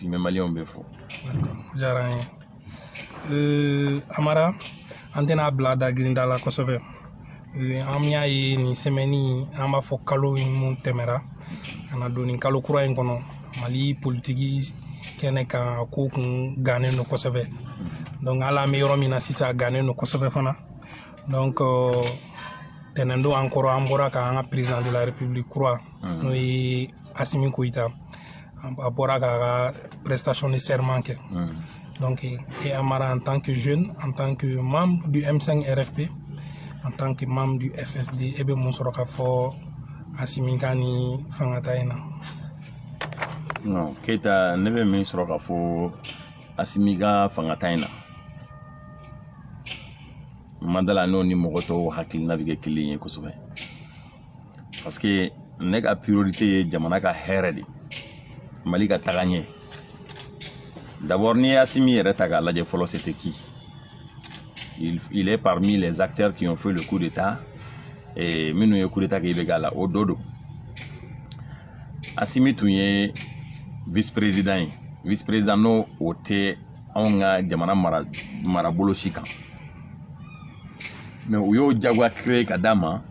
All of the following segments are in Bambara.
bi n bɛ maliyɛnw bɛɛ fo diyara n ye euh, amara an tɛna a bila da girinda la kosɛbɛ euh, an y'a ye nin semaine in an b'a fɔ kalo minnu tɛmɛra ka na don nin kalo kura in kɔnɔ mali politiki kɛnɛ kan ko kun gannen don kosɛbɛ donc hali an bɛ yɔrɔ min na sisan gannen don kosɛbɛ fana donc euh, tɛnɛndon encore an bɔra ka an ka président de la république kura n'o ye asimi goyita a bɔra k'a ka prestation de serment kɛ hmm. donc e amara en tant que jeune en tant que membre du m5 rfp en tant que membre du fsd e bɛ mun sɔrɔ ka fɔ asimi ka nin fangata in na non keyita ne bɛ min sɔrɔ ka fɔ asimi ka fangata in na n ma d'a la n'o ni mɔgɔ tɔw hakilina bɛ kɛ kelen ye kosɛbɛ parce que ne ka priorité ye jamana ka hɛrɛ de mali ka taga ɲɛ d'abord n'i ye asimi yɛrɛ ta k'a lajɛ fɔlɔ c'était qui il, il est parmi les acteurs qui ont fait le coup d'état et minnu ye coup d'état kɛ ibk la o dɔ don asimi tun ye vice président ye vice président n'o o tɛ anw ka jamana mara marabolo si kan mais u y'o jagoya créer k'a d'a ma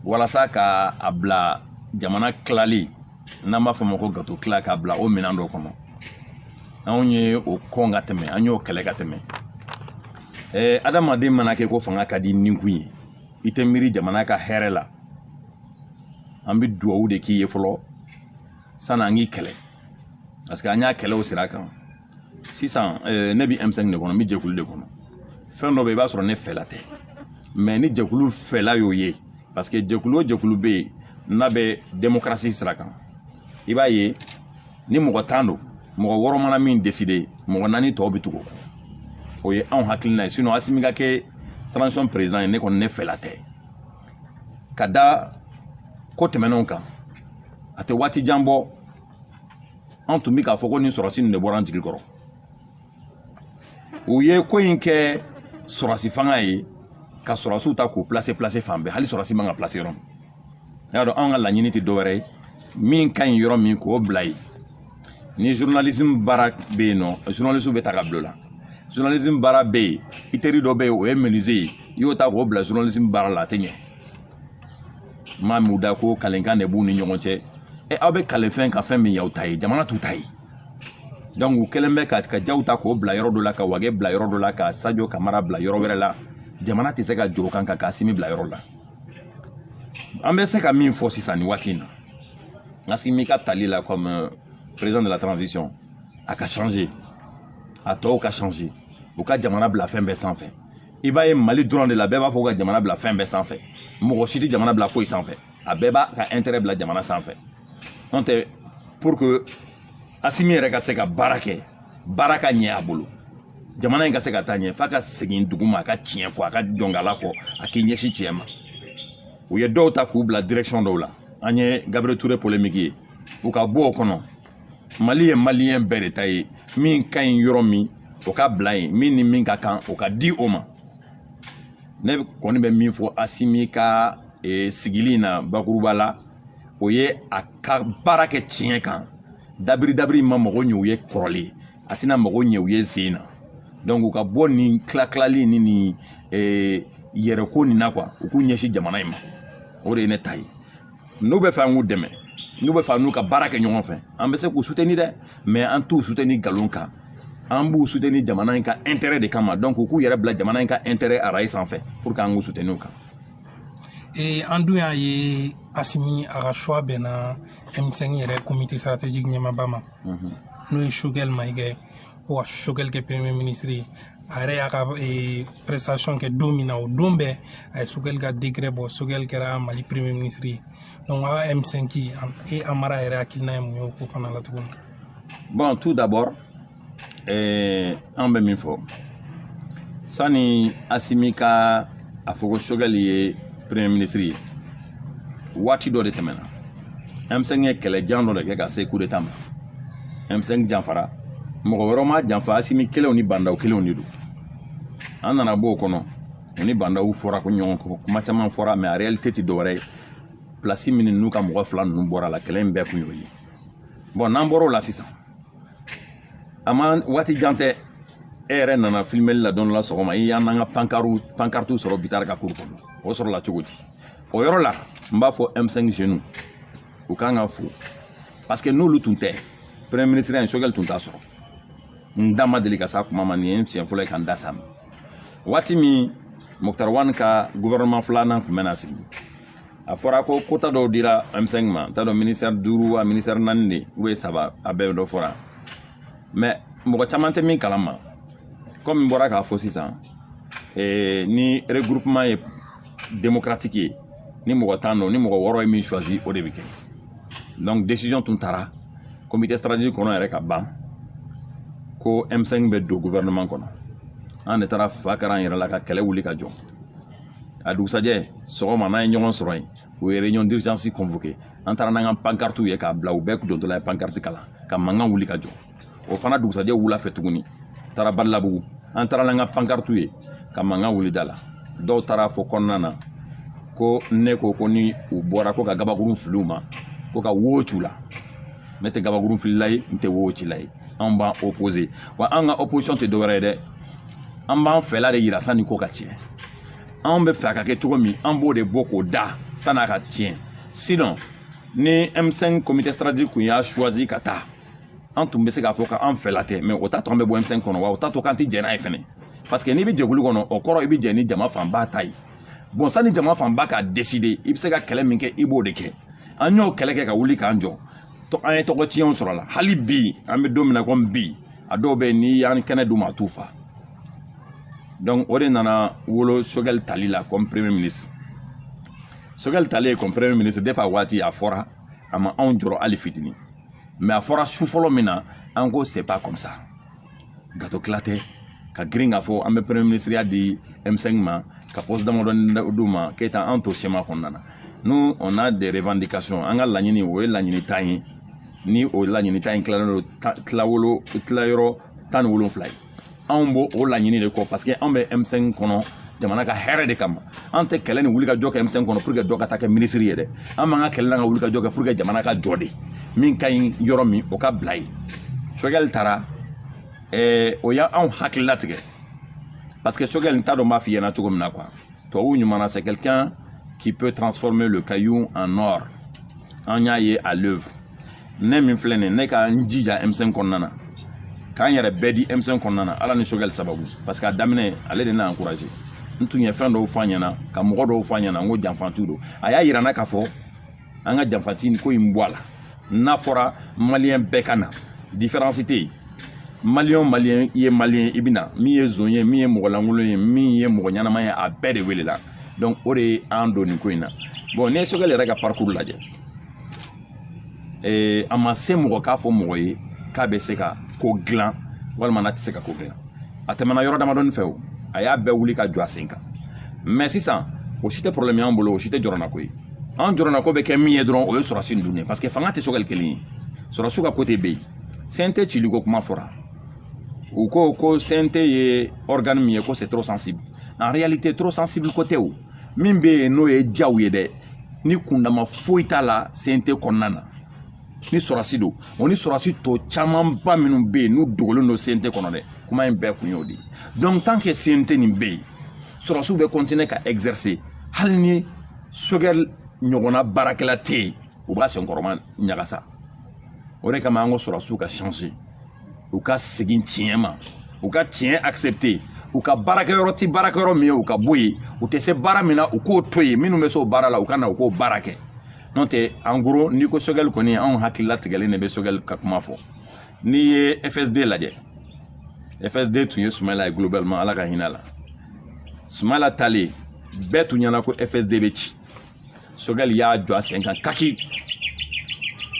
walasa ka a bila jamana tilali n'an b'a fɔ a ma ko gato tila k'a bila o minɛn dɔ kɔnɔ anw ye o kɔn ka tɛmɛ an y'o kɛlɛ ka tɛmɛ ɛɛ adamaden mana kɛ ko fanga ka di nikun ye i tɛ miiri jamana ka hɛrɛ la an bɛ duwawu de k'i ye fɔlɔ sanni an k'i kɛlɛ parce que an y'a kɛlɛ o sira kan sisan eh, ne bɛ m5 de kɔnɔ n bɛ jɛkulu de kɔnɔ fɛn dɔ bɛ i b'a sɔrɔ ne fɛla tɛ mais ni jɛkulu fɛla y'o ye parce que jɛkulu o jɛkulu bɛ yen n'a bɛ demokarasi sira kan i b'a ye ni mɔgɔ tan don mɔgɔ wɔɔrɔ mana min décider mɔgɔ naani tɔw bɛ tugu o kɔ o ye anw hakilina ye sinon asimi ka kɛ transition président ye ne kɔni ne fɛla tɛ ka da ko tɛmɛnenw kan a tɛ waati jan bɔ an tun bɛ k'a fɔ ko nin sɔrɔsi nin de bɔra an jigi kɔrɔ u ye ko in kɛ sɔrɔsi fanga ye ka sɔrɔsiw ta k'u pilase pilase fan bɛɛ hali sɔrɔsi man ka pilase yɔrɔ min n y'a dɔn anw ka laɲini tɛ dɔwɛrɛ ye min ka ɲi yɔrɔ min k'o bila yen ni journalisme baara bɛ yen nɔ journaliste bɛ ta ka bila o la journalisme baara bɛ yen i teri dɔ bɛ yen o ye menuisier ye i y'o ta k'o bila journalisme baara la a tɛ ɲɛ maa min da ko kalenkan de b'u ni ɲɔgɔn cɛ ɛ aw bɛ kalen fɛn kan fɛn min y'aw ta ye jamana t'u ta ye donc u kɛlen bɛ ka ka jaw ta k'o bila yɔrɔ dɔ la ka wage bila yɔrɔ dɔ la ka sajo kamara bila yɔrɔ wɛrɛ la jamana tɛ se ka jɔ o kan ka k'asimi bila yɔrɔ la an bɛ se ka min fɔ sisan nin waati in na asimi ka tali la comme euh, président de la transition a ka changer a tɔw ka changer u ka jamana bila fɛn bɛɛ sanfɛ i b'a ye mali dɔrɔn de la bɛɛ b'a fɔ ka jamana bila fɛn bɛɛ sanfɛ mɔgɔ si tɛ jamana bila foyi sanfɛ a bɛɛ b'a ka intérêt bila jamana sanfɛ n'o tɛ pour que asimi yɛrɛ ka se ka baara kɛ baara ka ɲɛ a bolo jamana in ka se ka taa ɲɛ f'a ka segin dugu ma a ka tiɲɛ fɔ a ka jɔnkala fɔ a k'i ɲɛsin tiɲɛ ma u ye dɔw ta k'u bila direction dɔw la an ye gabriel ture polemiki ye u ka bɔ o kɔnɔ mali ye maliyɛn bɛɛ de ta ye min ka ɲi yɔrɔ min o ka bila yen min ni min ka kan o ka di o ma ne kɔni bɛ min fɔ asimi ka e, sigili in na bakuruba la o ye a ka baara kɛ tiɲɛ kan dabiri dabiri ma mago ɲɛ u ye kɔrɔlen a tɛna mago ɲɛ u ye sen in na donc u ka bɔ nin tilatilali ni nin e, yɛrɛko nin na quoi u k'u ɲɛsin jamana in ma o de ye ne ta ye n'u bɛ fɛ an k'u dɛmɛ n'u bɛ fɛ an n'u ka baara kɛ ɲɔgɔn fɛ an bɛ se k'u suteni dɛ mais an t'u suteni nkalon kan an b'u suteni jamana in ka intérêt de kama donc u k'u yɛrɛ bila jamana in ka intérêt arayi sanfɛ pour que an k'u suteni o kan ee an dun y'a ye asimi a ka choix bɛnna m5 yɛrɛ comité stratégique ɲɛmaba ma n'o ye sogɛl maiga ko ka sogɛli kɛ premier ministre ye a yɛrɛ y'a ka eh, prestation kɛ don min na o don bɛɛ a ye sogɛli ka décret bɔ sogɛli kɛra mali premier ministre ye donc a m5 e amara yɛrɛ hakilina ye mun ye o ko fana la tuguni bon tout d'abord eh, an bɛ min fɔ sani asimi ka a fɔ ko sogɛli ye premier ministre ye waati dɔ de tɛmɛna m5 ye kɛlɛjan dɔ de kɛ ka se coup d'état ma m5 janfara mɔgɔ wɛrɛ m'a janfa asimi kelenw ni ba ndaw kelenw de don an nana b'o kɔnɔ u ni ba ndaw fɔra ko ɲɔgɔn kɔ kuma caman fɔra mais a réalité tɛ dɔwɛrɛ ye pilasi minnu n'u ka mɔgɔ fila ninnu bɔra la kɛlɛ in bɛɛ kun y'o ye bon n'an bɔr'o la sisan a ma waati jan tɛ e yɛrɛ nana filimeli la don nin la sɔgɔma i y'an n'an ka pankariw pankaritiw sɔrɔ bitari ka cour kɔnɔ o sɔrɔla cogo di o yɔrɔ la n b'a fɔ m5 jeunes u ka kan ka fo parce que n'olu tun tɛ premier ministreya in sogɛli tun t'a sɔrɔ n da ma deli ka s'a kuma ma nin ye n siɲɛ fɔlɔ ye ka n da s'a ma waati min muktar wan ka gouvernement filanan tun bɛna sigi a fɔra ko quota dɔw dira m5 ma n t'a dɔn ministère duuru wa ministère naani de ou ye saba a bɛɛ dɔ fɔra mais mɔgɔ caman tɛ min kalama kɔmi n bɔra k'a fɔ sisan eh, ni regroupement ye démocratique ye ni mɔgɔ tan don ni mɔgɔ wɔɔrɔ ye min choisi o de bɛ kɛ donc décision tun taara comité stratégique kɔnɔ yɛrɛ ka ban ko m5 bɛ don gouvernement kɔnɔ an de taara fa kari an yɛrɛ la ka kɛlɛ wuli ka jɔ a dugusajɛ sɔgɔma n'an ye ɲɔgɔn sɔrɔ yen u ye réunion d'urgence convoqué an taara n'an ka pankartiw ye k'a bila u bɛɛ dontɔla ye pankarti kalan ka mankan wuli ka jɔ o fana dugusajɛ wula fɛ tuguni taara badalabugu an taara n'an ka pankarti ye ka mankan wuli da la dɔw taara a fɔ kɔnɔna na ko ne ko ko ni u bɔra ko ka gabakurun fili u ma ko ka wo ci u la ne tɛ gabakurun filila ye n tɛ wo cila ye anw b'an opposé wa an ka opposition tɛ dɔwɛrɛ ye dɛ an b'an fɛla de yira sanni ko ka tiɲɛ anw bɛ fɛ a ka kɛ cogo min an b'o de bɔ k'o da san'a ka tiɲɛ sinon ni m5 comité stratégique kun y'a choisi ka taa an tun bɛ se k'a fɔ k'an fɛla tɛ mais o t'a to an bɛ bɔ m5 kɔnɔ wa o t'a to k'an tɛ jɛn n'a ye fɛnɛ parce que n'i bɛ jɛkulu kɔnɔ o kɔrɔ i bɛ jɛn ni jama fanba ta ye bon sani jama fanba k'a décidé i bɛ se ka kɛlɛ min kɛ i b'o de kɛ an y'o kɛlɛ kɛ ka wuli k'an jɔ an ye tɔgɔ tiɲɛw sɔrɔ a la hali bi an bɛ don min na komi bi a dɔw bɛ yen n'i y'an kɛnɛ d'u ma a t'u fa donc o de nana wolo choguel tali la comme premier ministre choguel talen comme premier ministre depuis a waati a fɔra a ma anw jɔrɔ hali fitini mais a fɔra su fɔlɔ min na an ko c'est pas comme ça gâteau tila tɛ ka girin k'a fɔ an bɛ premier ministeriya di m5 ma ka poste damadɔni d'u ma keyita an to schéma kɔnɔna na nous on a des revendications an ka laɲini o ye laɲini tan ye ni o laɲini tan in tilalen don tilawolo tilayɔrɔ tan ni wolonfila ye anw b'o laɲini de kɔ parce que anw bɛ M5 kɔnɔ jamana ka hɛrɛ de kama an tɛ kɛlɛ ni wulikajɔ kɛ M5 kɔnɔ pour que dɔ ka taa kɛ minisiri ye dɛ an b'an ka kɛlɛ n'an ka wulikajɔ kɛ pour que jamana ka jɔ dɛ min ka ɲi yɔrɔ min o ka bila yen choguel tara ɛɛ o ye anw hakili latigɛ parce que choguel n t'a dɔn n b'a f'i ɲɛna cogo min na quoi tubabuw ɲuman na c'est quelqu'un qui peut transformer le caillou en or an y'a ye à l'œuvre ne min filɛ nin ye ne ka n jija m5 kɔnɔna na ka n yɛrɛ bɛɛ di m5 kɔnɔna na ala ni choguel sababu parce que a daminɛ ale de ne encouragé n tun ye fɛn dɔw fɔ a ɲɛna ka mɔgɔ dɔw fɔ a ɲɛna n ko janfantiw don a y'a yira n na k'a fɔ an ka janfanti nin ko in bɔ a la n'a fɔra maliyɛn bɛɛ ka na différence tɛ yen maliyɛn maliyɛn i ye maliyɛn i bɛ na min ye zon ye min ye mɔgɔ lankolon ye min ye mɔgɔ ɲɛnama ye a bɛɛ de welela donc o de ye an don nin ko in na bon n'i ye choguel yɛrɛ ka parcours lajɛ ee, a ma se mɔgɔ k'a fɔ mɔgɔ ye k'a bɛ se ka ko dilan walima n'a tɛ se ka ko dilan a tɛmɛna yɔrɔ damadɔni fɛ o a y'a bɛɛ wuli ka jɔ a sen kan mais sisan o si tɛ problème y'an bolo o si tɛ jɔrɔnako ye an jɔrɔnako bɛ kɛ min ye dɔrɔn o ye sɔrɔsi ninnu ye parce que fanga tɛ sogɛli kelen ye sɔrɔsiw ka côté bɛ yen cnt cili ko kuma fɔra u ko ko cnt ye organe min ye ko c'est trop sensible en réalité trop sensible ko tɛ o min bɛ yen n'o ye jaw ye dɛ ni kundama foyi t'a la cnt kɔnɔna na ni sɔrɔsi don o ni sɔrɔsi tɔ camanba minnu bɛ yen n'u dogolen don cnt kɔnɔ dɛ kuma in bɛɛ kun y'o de ye donc tant que cnt nin bɛ yen sɔrɔsiw bɛ continuer ka exercer hali ni sogɛli ɲɔgɔnna baarakɛla tɛ yen u b'a senkɔrɔma ɲagasa o de kama an ko sɔrɔsiw ka changer u ka segin tiɲɛ ma u ka tiɲɛ accepter u ka baarakɛyɔrɔ ti baarakɛyɔrɔ min ye u ka bɔ yen u tɛ se baara min na u k'o to yen minnu bɛ se o baara la u ka na u k'o baara kɛ n'o tɛ en gros n'i ko sogɛli kɔni anw hakili latigɛlen de bɛ sogɛli ka kuma fɔ n'i ye fsd lajɛ fsd tun ye sumayɛla ye globalement ala ka hinɛ a la sumayɛla taalen bɛɛ tun ɲɛna ko fsd bɛ ci sogɛli y'a jɔ a sen kan kaki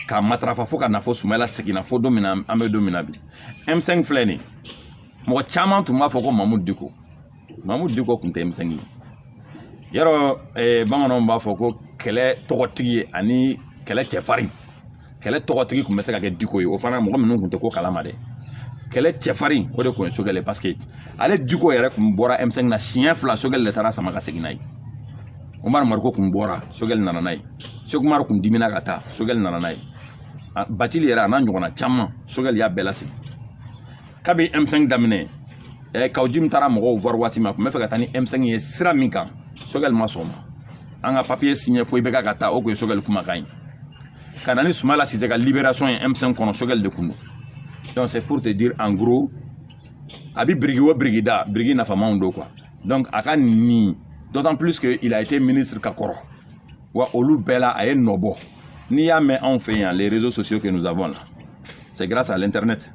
k'a matarafa fo ka na fɔ sumayɛla seginna fo don min na an bɛ don min na bi m5 filɛ nin mɔgɔ caman tun b'a fɔ ko mamudu diko mamudu diko tun tɛ m5 ye yɛrɛ eh, bamananw b'a fɔ ko kɛlɛ tɔgɔtigi ani kɛlɛ cɛfarin kɛlɛ tɔgɔtigi tun bɛ se ka kɛ diko ye o fana mɔgɔ minnu tun tɛ ko kalama dɛ kɛlɛ cɛfarin o de tun ye sogɛli ye parce que ale diko yɛrɛ tun bɔra m5 na siɲɛ fila sogɛli de taara a sama ka segin n'a ye umaru mariko tun bɔra sogɛli nana n'a ye seku umaru tun dimina ka taa sogɛli nana n'a ye batili yɛrɛ a n'a ɲɔgɔnna caman sogɛli y'a bɛɛ lasegin kabi m5 daminɛ ɛ kaw jim taara mɔgɔw voir waati min a tun bɛ fɛ ka taa ni m5 ye sira min kan sogɛli ma sɔn o ma an ka papier signer fo ibk ka taa o tun ye sogɛli kumakan ye ka na ni sumala sise ka libération ye m5 kɔnɔ sogɛli de kun don donc c'est pour te dire en gros a bi biriki o biriki da biriki nafamanw don quoi donc a ka ɲi d'autant plus que il a été ministre ka kɔrɔ wa olu bɛɛ la a ye nɔ bɔ n'i y'a mɛn anw fɛ yan les réseaux sociaux que nous avons là c'est grâce à l'internet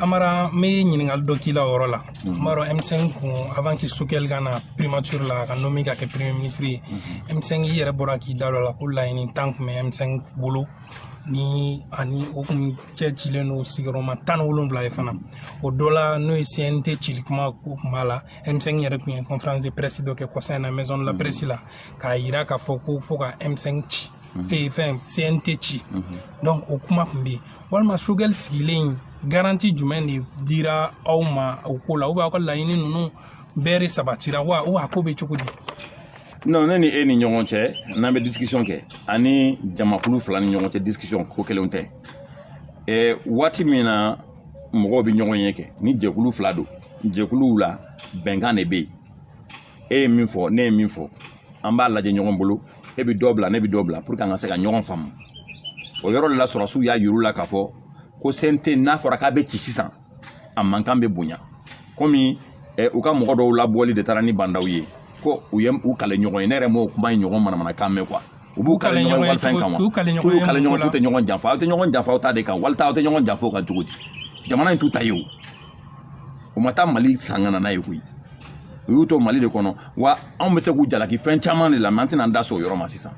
amara n bɛ ɲininkali dɔ k'i la o yɔrɔ la n b'a dɔn m5 kun avant que sogɛli ka na primature la a ka nommer ka kɛ premier ministre ye m5 yɛrɛ bɔra k'i da dɔ la ko laɲini tan kun bɛ m5 bolo ni ani o kun cɛcilen don sigiyɔrɔma tan ni wolonwula ye fana o dɔ la n'o ye cnt cili kuma ko kun b'a la m5 yɛrɛ tun ye conférence de presse dɔ kɛ kɔsa in na maison de la presse la k'a yira k'a fɔ ko fo ka m5 ci et enfin CNT ci donc o kuma tun bɛ yen walima Choguel sigilen garanti jumɛn de dira aw ma o ko la ou aw ka laɲini ninnu bɛɛ de sabatira wa ou a ko bɛ cogo di non ne ni e ni ɲɔgɔn cɛ n'an bɛ discussion kɛ ani jamakulu fila ni ɲɔgɔn cɛ discussion ko kelen tɛ ɛ waati min na mɔgɔw bɛ ɲɔgɔn ye kɛ ni jɛkulu fila don jɛkuluw la bɛnkan de bɛ yen e ye min fɔ ne ye min fɔ an b'a lajɛ ɲɔgɔn bolo e bɛ dɔ bila ne bɛ dɔ bila pour que an ka se ka ɲɔgɔn faamu o yɔrɔ de la sɔrɔdasiw y'a yir'u la k'a fɔ ko CNT n'a fɔra k'a bɛ ci sisan a mankan bɛ bonya komi eh, u ka mɔgɔ dɔw labɔli de taara ni bandaw ye ko u ye u kale ɲɔgɔn ye ne yɛrɛ m'o kuma in ɲɔgɔn manamanakan mɛn quoi u b'u kale ɲɔgɔn walifɛn kan wa k'u kale ɲɔgɔn k'u tɛ ɲɔgɔn janfa aw tɛ ɲɔgɔn janfa aw ta de kan walita aw tɛ ɲɔgɔn janfa o kan cogo di jamana in t'u ta ye o o ma taa mali san ka na n'a ye koyi u y'u to mali de kɔnɔ wa anw bɛ se k'u jalaki fɛn caman de la mais an tɛna an da so o yɔrɔ ma sisan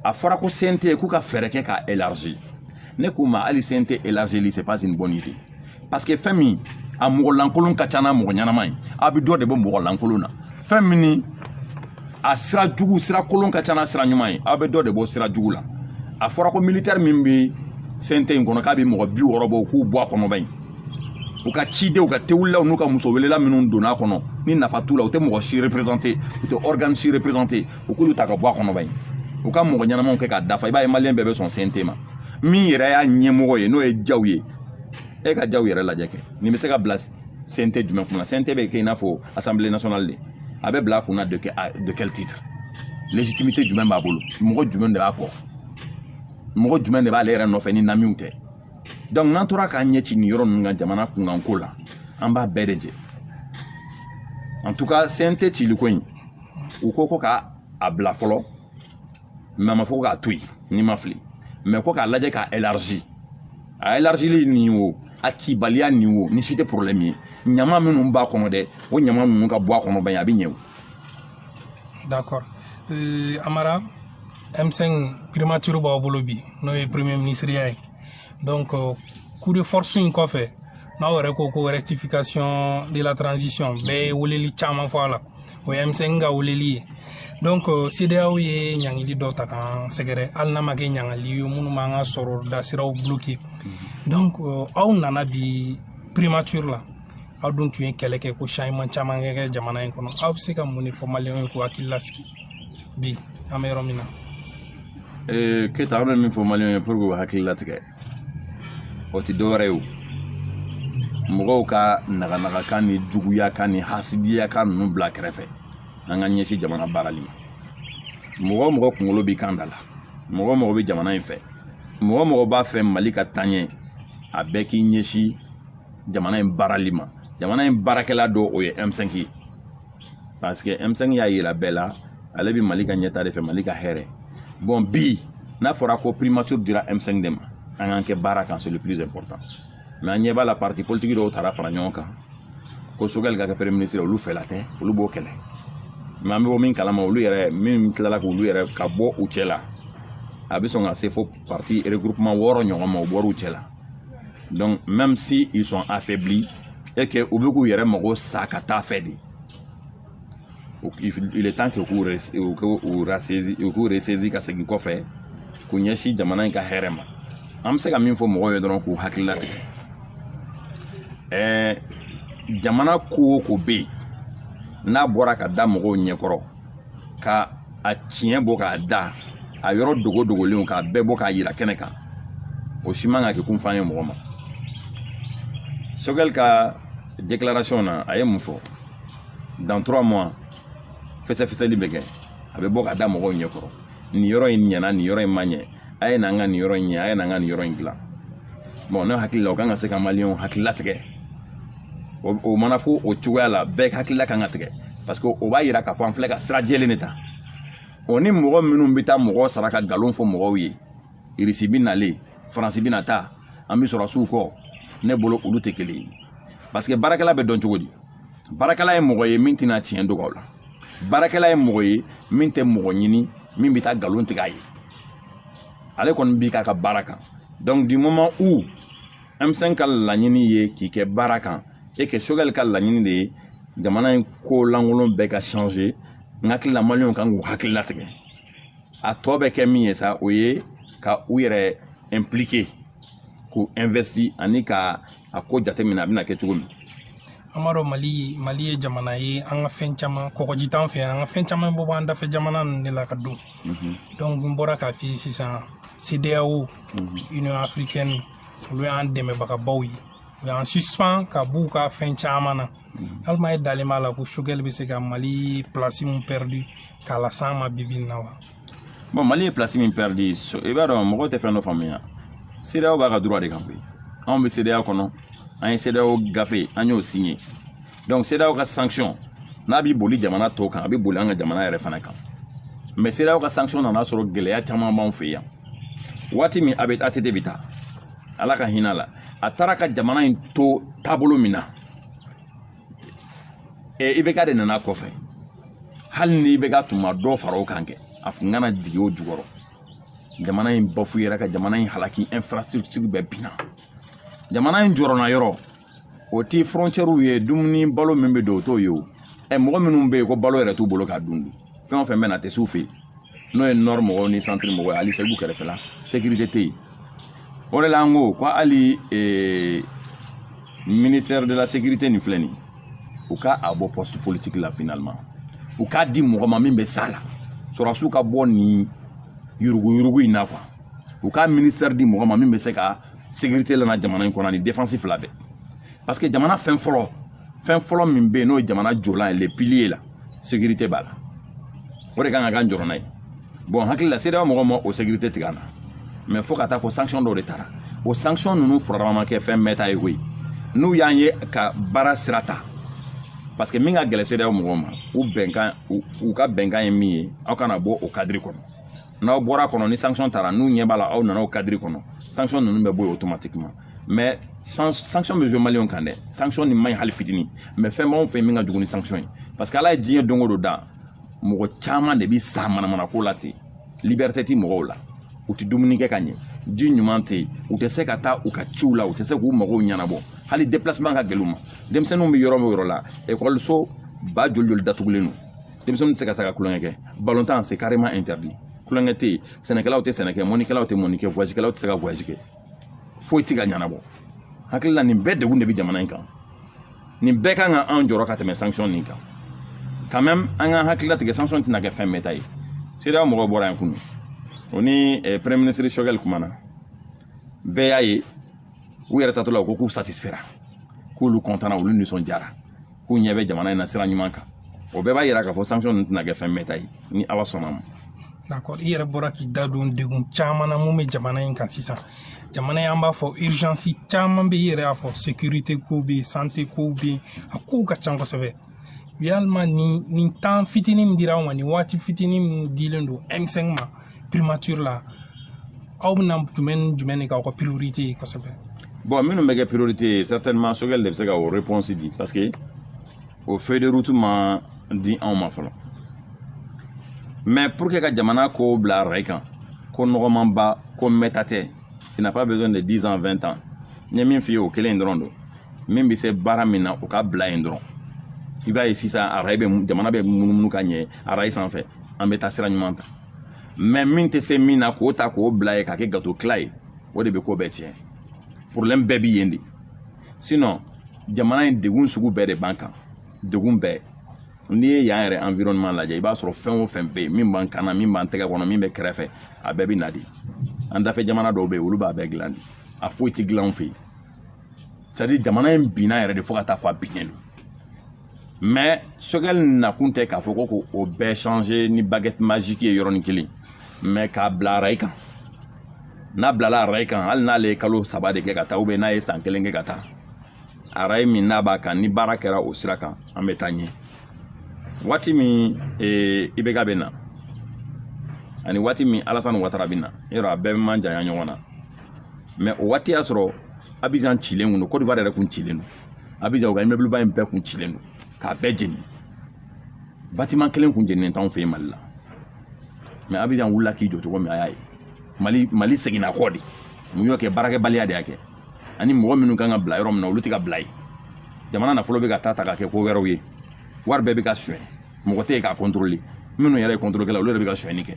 a fɔra ko CNT k'u ka fɛɛrɛ kɛ k'a élargi ne k'u ma hali CNT élargili c'est pas une bonne idée parce que fɛn min a mɔgɔ lankolon ka ca n'a mɔgɔ ɲɛnama ye a bɛ dɔ de bɔ mɔgɔ lankolon na fɛn min ni a sira jugu sira kolon ka ca n'a sira ɲuman ye aw bɛ dɔ de bɔ sira jugu la a fɔra ko militɛri min bɛ CNT in kɔnɔ k'a bɛ mɔgɔ bi wɔɔrɔ bɔ k'u bɔ a kɔnɔ bani u ka cidenw ka tewulilaw n'u ka muso welela minnu donna a kɔnɔ ni nafa t'u la u tɛ mɔgɔ si représenter u tɛ organe si représenter u k'olu ta ka bɔ a kɔnɔ bani u ka mɔgɔ ɲɛnamaw kɛ k'a dafa i b'a ye maliyɛn bɛɛ bɛ sɔn CNT ma min yɛrɛ y'a ɲɛmɔgɔ ye n'o ye Diaw ye e ka Diaw yɛrɛ lajɛ kɛ nin bɛ se ka bila CNT jumɛn kunna CNT bɛ kɛ i n'a fɔ assemblée nationale de a bɛ bila a kunna de quel titre légitimité jumɛn b'a bolo mɔgɔ jumɛn de b'a kɔ mɔgɔ jumɛn de b'ale yɛrɛ nɔfɛ ni namiw tɛ donc n'an tora k'an ɲɛ ci nin yɔrɔ ninnu kan jamana kunkanko la an b'a bɛɛ de jɛ en tout cas CNT ciliko in u ko ko ka a bila fɔlɔ mais a ma fɔ ko k'a to yen ni n ma fili mais ko k'a lajɛ k'a élargi a élargili nin o a cibaliya nin o nin si tɛ problème ye ɲama minnu b'a kɔnɔ dɛ o ɲama ninnu ka bɔ a kɔnɔ bani a bɛ ɲɛ o d'accord euh, Amara M5 primature b'aw bolo bi n'o ye premier ministre ye donc euh, coup de force in kɔfɛ n'aw yɛrɛ ko ko rectification de la transition bɛɛ ye weleli caman fɔ a la o ye M5 ka weleli ye donc euh, CEDEAO ye ɲangili dɔ ta k'an sɛgɛrɛ hali n'a ma kɛ ɲangili ye minnu b'an ka sɔrɔda siraw bloquer donc aw nana bi primature la aw dun tun ye kɛlɛ kɛ ko changement caman kɛ jamana in kɔnɔ aw bɛ se ka mun de fɔ maliyɛnw ye k'u hakili lasigi bi an bɛ yɔrɔ min na ee keyita an bɛ min fɔ maliyɛnw ye pour que u hakili latigɛ o tɛ dɔwɛrɛ ye o mɔgɔw ka naganagakan ni juguya kan ni hasidiya kan ninnu bila kɛrɛfɛ an ka ɲɛsin jamana baarali ma mɔgɔ o mɔgɔ kunkolo b'i kan da la mɔgɔ o mɔgɔ bɛ jamana in fɛ mɔgɔ o mɔgɔ b'a fɛ mali ka taaɲɛ a bɛɛ k'i ɲɛsin jamana in baarali ma jamana in baarakɛla dɔ o ye m5 ye parce que m5 y'a yira bɛɛ la ale bɛ mali ka ɲɛtaa de fɛ mali ka hɛrɛ bon bi n'a fɔra ko primature dira m5 de ma an k'an kɛ baara kan c'est le plus important mais an ɲɛ b'a la parti politique dɔw taara fara ɲɔgɔn kan ko sogɛli ka kɛ premier ministre olu fɛla tɛ olu b'o kɛlɛ mais an bɛ bɔ min kalama olu yɛrɛ min tilala k'olu yɛrɛ ka bɔ u cɛ la a bɛ sɔn ka se fo parti regroupement wɔɔrɔ ɲɔgɔn ma u bɔr'u cɛ la donc même si ils sont affaiblis et que u bɛ k'u yɛrɛ mago sa ka t'a fɛ de il est temps que u k'u ressaisi ka segin kɔfɛ k'u ɲɛsin jamana in ka hɛrɛ ma an bɛ se ka min fɔ mɔgɔw ye dɔrɔn k'u hakili latigɛ ɛɛ jamana ko o ko bɛ yen n'a bɔra ka da mɔgɔw ɲɛkɔrɔ ka a tiɲɛ bɔ k'a da a yɔrɔ dogo dogolenw k'a bɛɛ bɔ k'a yira kɛnɛ kan o si man ka kɛ kunfan ye mɔgɔ ma sogɛli ka déclaration na a ye mun fɔ dans trois mois fɛsɛfɛsɛli bɛ kɛ a bɛ bɔ ka da mɔgɔw ɲɛ kɔrɔ nin yɔrɔ in ɲɛna nin yɔrɔ in ma ɲɛ a ye n'an ka nin yɔrɔ in ɲɛ a ye n'an ka nin yɔrɔ in dilan bon ne hakili la o kan ka se ka maliyɛnw hakili latigɛ o mana fɔ o cogoya la bɛɛ hakilila kan ka tigɛ parce que o b'a yira k'a fɔ an filɛ ka sira jɛlen de ta o ni mɔgɔ minnu bɛ taa mɔgɔ sara ka nkalon fɔ mɔgɔw ye irisi bɛ nalen faransi bɛna taa an bɛ sɔrɔdasiw kɔ ne bolo olu tɛ kelen ye parce que baarakɛla bɛ dɔn cogo di baarakɛla ye mɔgɔ ye min tɛna tiɲɛ dogo aw la baarakɛla ye mɔgɔ ye min tɛ mɔgɔ ɲini min bɛ taa nkalon tigɛ a ye ale kɔni b'i k'a ka baara kan donc du moment où M5 ka laɲini ye k'i kɛ baara kan et que Sogɛli ka laɲini de ye jamana in ko lankolon bɛɛ ka changer n hakili la maliyɛnw kan k'u hakili latigɛ a tɔ bɛ kɛ min ye sa o ye ka u yɛrɛ impliquer k'u investi ani ka a ko jateminɛ a bɛna kɛ cogo min an b'a dɔn mali mali ye jamana ye an ka fɛn caman kɔgɔji t'an fɛ an ka fɛn caman bɛ b'an dafɛ jamana ninnu de la ka don donc n bɔra k'a f'i ye sisan CEDEAO, Union africaine olu y'an dɛmɛbagabaw ye u y'an suspend ka b'u ka fɛn caman na mm. yalima e dalen b'a la ko sogɛli bɛ se ka mali ye place min perdu k'a las'an ma bi bi in na wa bon mali ye place min perdu i b'a dɔn mɔgɔw tɛ fɛn dɔ faamuya cedeao b'a ka droit de kan koyi anw bɛ cedeao kɔnɔ an ye cedeao gafe an y'o signé donc cedeao ka sanction n'a b'i boli jamana tɔw kan a bɛ boli an ka jamana yɛrɛ fana kan mais cedeao ka sanction nana sɔrɔ gɛlɛya caman b'anw fɛ yan waati min a bɛ att bɛ taa ala ka hinɛ la a taara ka jamana in to taabolo min na ibk de nana kɔfɛ hali ni ibk tun ma dɔ fara o kan kɛ a tun kana jigin o jukɔrɔ jamana in bafuyera ka jamana in halaki infrastructure bɛɛ binna jamana in jɔrɔna yɔrɔ o ti frontiɛriw ye dumuni balo min bɛ don o t'o ye o ɛ mɔgɔ minnu bɛ yen ko balo yɛrɛ t'u bolo k'a dun fɛn o fɛn bɛ na a tɛ s'u fɛ yen n'o ye nord mɔgɔw ni centre mɔgɔw ye hali segu kɛrɛfɛla sécurité tɛ yen o de la an ko ko hali ee ministère de la sécurité nin filɛ nin ye u ka a bɔ poste politique la finalement u k'a di mɔgɔ ma min bɛ s'a la sɔrɔdasiw ka bɔ nin yuruguyurugu in na quoi u ka ministère di mɔgɔ ma min bɛ se ka sécurité lana jamana in kɔnɔ ni défense fila bɛɛ parce que jamana fɛn fɔlɔ fɛn fɔlɔ min bɛ yen n'o ye jamana jɔlan ye le pilier la sécurité b'a la o de kan ka k'an jɔrɔna ye bon hakili la cedeao mɔgɔw ma o sécurité tigɛ an na mais fo ka taa fɔ sanction dɔw de tara o sanction ninnu furarama ma kɛ fɛn mɛɛnta ye koyi n'u y'an ye ka baara sira ta parce que min ka gɛlɛn cedeao mɔgɔw ma u bɛnkan u ka bɛnkan ye min ye aw kana bɔ o kadiri kɔnɔ n'aw bɔra kɔnɔ ni sanction tara n'u ɲɛ b'a la aw nana o kadiri kɔnɔ sanction ninnu bɛ bɔ yen automatiquement mais sanction bɛ jouer maliyɛnw kan dɛ sanction nin man ɲi hali fitini mais fɛn b'anw fɛ yen min ka jugu ni sanction ye parce que ala ye diɲɛ don o don da mɔgɔ caman de bɛ sa manamana ko la ten liberté ti mɔgɔw la u tɛ dumuni kɛ ka ɲɛ ji ɲuman tɛ yen u tɛ se ka taa u ka ciw la u tɛ se k'u magow ɲɛnabɔ hali déplacement ka gɛlɛn u ma denmisɛnninw bɛ yɔrɔ o yɔrɔ la ekɔliso ba joli joli datugulen don denmisɛnninw tɛ se ka taa ka tulonkɛ kɛ balontan c'est carrément interdit tulonkɛ tɛ yen sɛnɛkɛlaw tɛ sɛnɛ kɛ mɔnnikɛlaw tɛ mɔnni kɛ voyagekɛlaw tɛ se ka voyage kɛ foyi tɛ ka ɲɛnabɔ hakili la nin bɛɛ degun de bɛ jamana in kan nin bɛɛ kan ka anw jɔrɔ ka tɛmɛ sanction nin kan quand même an ka hakili latigɛ sanction tɛna kɛ fɛn mɛɛnta ye cedeao mɔgɔw bɔra yan kunu o ni eh, premier ministre sogɛli kumana bɛɛ y'a ye u yɛrɛ taatɔ la u ko k'u satisfera k'olu kɔntana olu nisɔndiyara k'u ɲɛ bɛ jamana in na sira ɲuman kan o bɛɛ b'a yira k'a fɔ sanction ninnu tɛna kɛ fɛn mɛɛnta ye ni ala sɔnn'a ma d'accord i yɛrɛ bɔra k'i da don degun caman na mun bɛ jamana in kan sisan jamana in an b'a fɔ urgence caman bɛ i yɛrɛ y'a fɔ sécurité ko bɛ yen santé ko bɛ yen a kow ka ca kosɛbɛ yalima nin nin temps fitinin min dira anw ma nin waati fitinin min dilen don m5 ma primature la aw bɛna jumɛn ni jumɛn de k'aw ka priorité ye kosɛbɛ bon minnu bɛ kɛ priorité ye certainement sogɛli de bɛ se ka o réponse di parce que o feuille de route ma di anw ma fɔlɔ mais pour que ka jamana kow bila rayi kan ko nɔgɔmanba ko mɛɛnta tɛ tu n'as pas besoin de 10 ans 20 ans n ye min f'i ye o kelen dɔrɔn don min bɛ se baara min na o ka bila yen dɔrɔn i b'a ye sisan arayi bɛ jamana bɛ munumunu ka ɲɛ arayi sanfɛ an bɛ taa sira ɲuman kan mais min tɛ se min na k'o ta k'o bila yen k'a kɛ gato tila ye o de bɛ ko bɛɛ tiɲɛ problème bɛɛ bɛ yen de sinon jamana in degun sugu bɛɛ de b'an kan degun bɛɛ n'i ye yan yɛrɛ environnement lajɛ i b'a sɔrɔ fɛn o fɛn bɛ yen min b'an kan na min b'an tɛgɛ kɔnɔ min bɛ kɛrɛfɛ a bɛɛ bɛ na de an dafɛ jamana dɔw bɛ yen olu b'a bɛɛ dilan de a foyi tɛ dilan anw fɛ yen c'est à dire jamana in binna yɛrɛ de fo ka taa fɔ a binnen don mais sogɛli nakun tɛ k'a fɔ ko k'o bɛɛ changer ni baguette magique ye yɔrɔnin kelen mais k'a bila arayi kan n'a bilala arayi kan hali n'ale ye kalo saba de kɛ ka taa ou bien n'a ye san kelen kɛ ka taa arayi min n'a b'a kan ni baara kɛra o sira kan an bɛ taa ɲɛ waati min ee, IBK bɛ na ani waati min alasani watara bɛ na yɔrɔ a bɛɛ ma janya ɲɔgɔn na mais o waati y'a sɔrɔ abizan cilen kun don kodiwari yɛrɛ kun cilen don abizan u ka immeuble ba in bɛɛ kun cilen don k'a bɛɛ jeni bâtiment kelen kun jeninen t'anw fɛ yen mali la mais abizan wulila k'i jɔ cogo min a y'a ye mali mali seginna kɔ de mun y'o kɛ baarakɛbaliya de y'a kɛ ani mɔgɔ minnu kan ka bila yɔrɔ min na olu tɛ ka bila yen jamana nafolo bɛ ka taa ta ka kɛ ko wɛrɛw ye wari bɛɛ bɛ ka suɲɛ mɔgɔ tɛ yen k'a contrôler minnu yɛrɛ ye kɔntorolikɛla olu yɛrɛ bɛ ka sonyɛni kɛ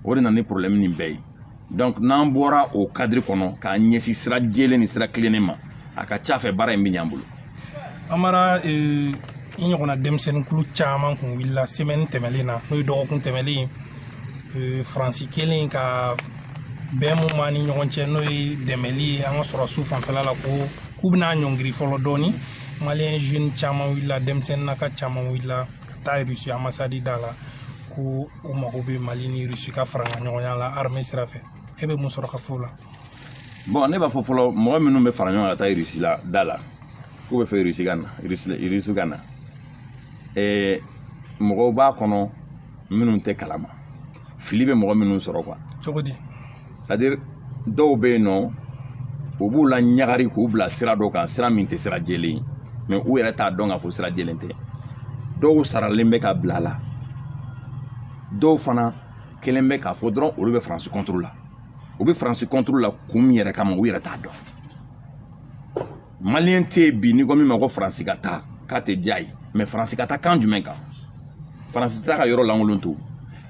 o de nana ni problème nin bɛɛ ye donc n'an bɔra o cadre kɔnɔ k'an ɲɛsin sira jɛlen ni sira tilennen ma a ka ca fɛ baara in bɛ ɲ'an bolo amara eh, i ɲɔgɔnna denmisɛnninkulu caman kun wulila semaine tɛmɛlen na n'o ye dɔgɔkun tɛmɛlen eh, faransi kɛlen ka bɛn mun b'an ni ɲɔgɔn cɛ n'o ye dɛmɛli ye an ka sɔrɔdasiw fanfɛla la ko k'u bɛna ɲɔngiri fɔlɔ dɔɔni maliyɛn jeune caman wulila denmisɛnnin na ka caman wulila ka taa irisi ambassade da la ko u mago bɛ mali ni irisi ka farankaɲɔgɔnya la armée sira fɛ e bɛ mun sɔrɔ ka fɔ o la bon ne b'a fɔ fɔlɔ mɔgɔ minnu bɛ fara ɲɔgɔn kan ka taa irisi la da la k'u b'a fɛ irisi ka na irisi ka na mɔgɔw b'a kɔnɔ minnu tɛ kalama fili bɛ mɔgɔ minnu sɔrɔ quoi cogo di c'est à dire dɔw bɛ yen nɔ u b'u laɲagari k'u bila sira dɔ kan sira min tɛ sira jɛlen ye mais u yɛrɛ t'a dɔn k'a fɔ sira jɛlen tɛ dɔw saralen bɛ ka bila a la dɔw fana kɛlen bɛ k'a fɔ dɔrɔn olu bɛ faransi contre la u bɛ faransi contre la kun min yɛrɛ kama u yɛrɛ t'a dɔn maliyɛn tɛ yen bi n'i ko min ma ko faransi ka taa k'a tɛ diya ye mais faransi ka taa kan jumɛn kan faransi t'a ka yɔrɔ lankolon to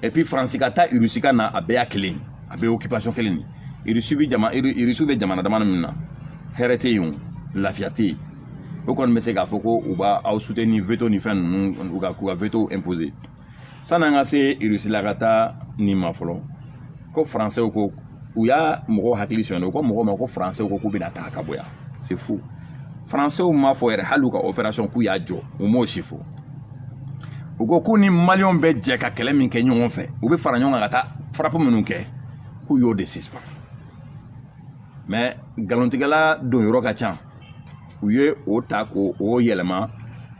et puis faransi ka taa irisi ka na a bɛɛ y'a kelen a bɛɛ occupation kelen de irisi bɛ jama irisi bɛ jamana dama min na hɛrɛ tɛ yen o lafiya tɛ yen o kɔni bɛ se k'a fɔ ko u b'aw soutenir veto ni fɛn ninnu u ka k'u ka veto imposer sanni an ka se irisi la ka taa nin ma fɔlɔ ko faransɛw ko u y'a mɔgɔw hakili sonya u ko mɔgɔw ma ko faransɛw ko k'u bɛna taa ka bɔ yan c'est faux faransɛw m'a fɔ yɛrɛ hali u ka opération k'u y'a jɔ u m'o si fɔ u ko k'u ni maliyɛnw bɛ jɛ ka kɛlɛ min kɛ ɲɔgɔn fɛ u bɛ fara ɲɔgɔn kan ka taa frappe minnu kɛ k'u y'o de suspend mais nkalontigɛla don yɔrɔ ka ca u ye o ta k'o yɛlɛma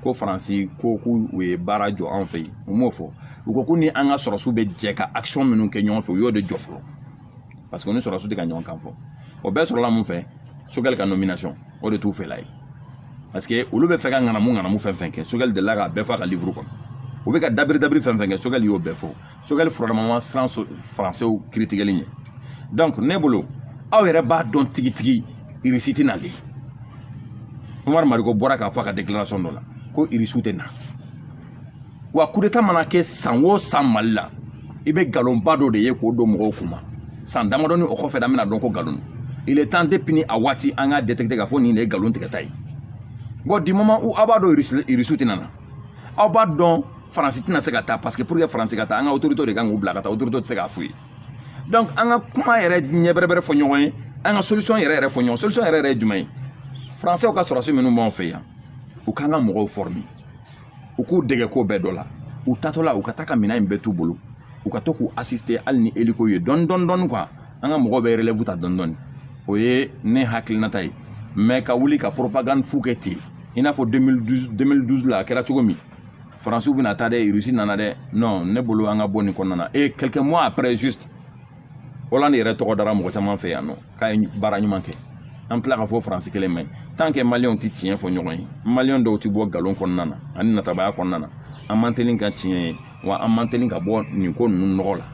ko faransi ko k'u u ye baara jɔ an fɛ yen u m'o fɔ u ko k'u ni an ka sɔrɔsiw bɛ jɛ ka action minnu kɛ ɲɔgɔn fɛ u y'o de jɔ fɔlɔ parce que u ni sɔrɔsiw tɛ ka ɲɔgɔn kan fɔ o bɛɛ sɔrɔla mun fɛ sogɛli ka nomination o de t'u fɛla ye parce que olu bɛ fɛ ka ŋanamu ŋanamu fɛn fɛn kɛ sogɛli delila k'a bɛɛ fɔ a ka livuru kɔnɔ u bɛ ka dabiri dabiri fɛn fɛn kɛ sogɛli y'o bɛɛ fɔ sogɛli fana ma siran faransɛw critiqueli ɲɛ donc ne bolo aw yɛrɛ b'a dɔn tigitigi irisi tɛ na hali umar mariko bɔra k'a fɔ a ka déclaration dɔ la ko irisiw tɛ na wa kudeta mana kɛ san o san mali la i bɛ nkalonba dɔ de ye k'o don mɔgɔw kun ma san damadɔni o kɔfɛ an bɛna dɔn ko nkalon il est temps depuis ni a waati an k'a détecter k'a fɔ nin de ye nkalon tigɛta ye bon du moment où aw b'a dɔn irisiw tɛ na aw b'a dɔn faransi tɛna se ka taa parce que pour que faransi ka taa an ka autorité de kan k'u bila ka taa autorité tɛ se k'a f'u ye donc an ka kuma yɛrɛ ɲɛ bɛrɛbɛrɛ fɔ ɲɔgɔn ye an ka solution yɛrɛ yɛrɛ fɔ ɲɔgɔn solution yɛrɛ yɛrɛ ye jumɛn ye faransiw ka sɔrɔsi minnu b'anw fɛ yan u k'an ka mɔgɔw former u k'u dege ko bɛɛ dɔ la u taatɔ la u ka taa ka minɛn in bɛɛ t'u bolo u ka to k'u assister hali ni hélico ye dɔɔni dɔɔni dɔɔni quoi an ka mɔgɔw bɛ relève ta dɔɔni dɔɔni o ye ne hakilinata ye mais ka wuli ka propagande fu kɛ ten i n'a fɔ 2012 2012 la a kɛra cogo min faransiw bɛna taa dɛ rusi nana dɛ non ne bolo an ka bɔ nin kɔnɔna na et quelques mois après juste hollande yɛrɛ tɔgɔ dara mɔgɔ caman fɛ yan nɔ k'a ye baara ɲuman kɛ an tila k'a fɔ faransi kelen man ɲi tant que maliyɛnw tɛ tiɲɛ fɔ ɲɔgɔn ye maliyɛn dɔw tɛ bɔ nkalon kɔnɔna na ani natabaya kɔnɔna na an man teli ka tiɲɛ ye wa an man teli ka bɔ nin ko ninnu nɔgɔ la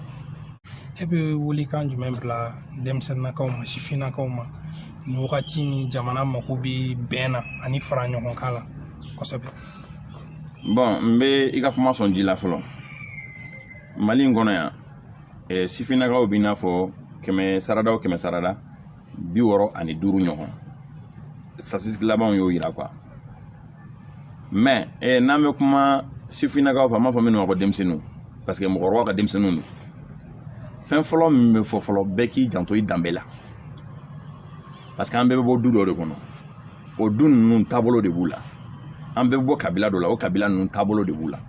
e bɛ welekan jumɛn bila denmisɛnninnakaw ma sifinnakaw ma nin wagati in jamana mako bɛ bɛn na ani fara ɲɔgɔn kan la kosɛbɛ bon n bɛ i ka kuma sɔn ji la fɔlɔ mali in kɔnɔ yan eh, sifinnakaw b'i n'a fɔ kɛmɛ sarada o kɛmɛ sarada bi wɔɔrɔ ani duuru ɲɔgɔn statistique labanw y'o yira quoi mais eh, n'an bɛ kuma sifinnakaw fɛ an b'a fɔ minnu ma ko denmisɛnninw parce que mɔgɔkɔrɔbaw ka denmisɛnninw don fɛn fɔlɔ min bɛ fɔ fɔlɔ bɛɛ k'i janto i danbe la parce que an bɛɛ bɛ bɔ du dɔ de kɔnɔ o du ninnu taabolo de b'u la an bɛ bɔ kabila dɔ la o kabila ninnu taabolo de b'u la